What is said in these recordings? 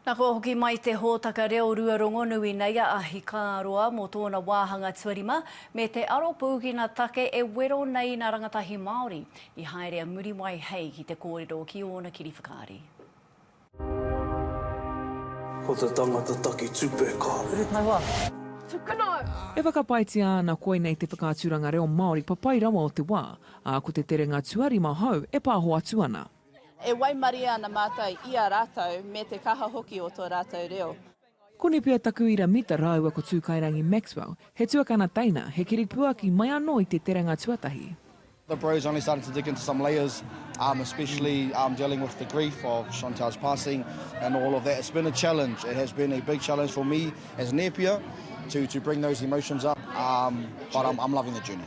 Na kua hoki mai te hōtaka reo rua rongonui nei a Ahikāroa mō tōna wāhanga tuarima me te aro pūkina take e wero nei nā rangatahi Māori i haere a Muriwai hei ki te kōrero ki ōna kiri whakaari. Ko te tangata taki tupe ka. Urutaua. Tukuna! E whakapaetia ana koinei te whakaaturanga reo Māori papai rawa o te wā, ā, ko te terenga tuarima hou e pāho atu ana. E waimarie ana mātou i a rātou me te kaha hoki o tō rātou reo. Koni pea taku ira Mita rāua ko Tūkairangi Maxwell, he tuakana teina, he kiripuaki mai anō i te terenga tuatahi. The Bros only started to dig into some layers um especially um dealing with the grief of Chantelle's passing and all of that it's been a challenge it has been a big challenge for me as Nepia to to bring those emotions up um but I'm I'm loving the journey.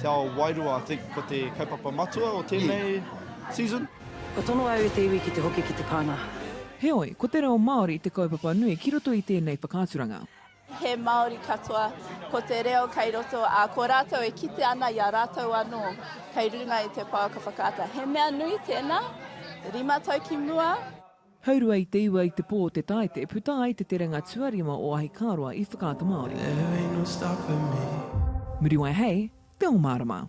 Te ao wairua, I think, ko te kaupapa matua o tēnei season. Kua tono au e te iwi ki te hoki ki te pānga. Heoi, ko te reo Māori te kaupapa nui ki roto i tēnei whakaaturanga. He Māori katoa, ko te reo kei roto, ā, ko rātou e kite ana i a rātou anō kei runga i te pouaka whakaata. He mea nui tēnā, rima tau ki mua. Haurua i te iwa i te pō o te tae te puta ai te terenga tuarima o Ahikāroa i Whakaata Māori. Muriwai hei te o marama.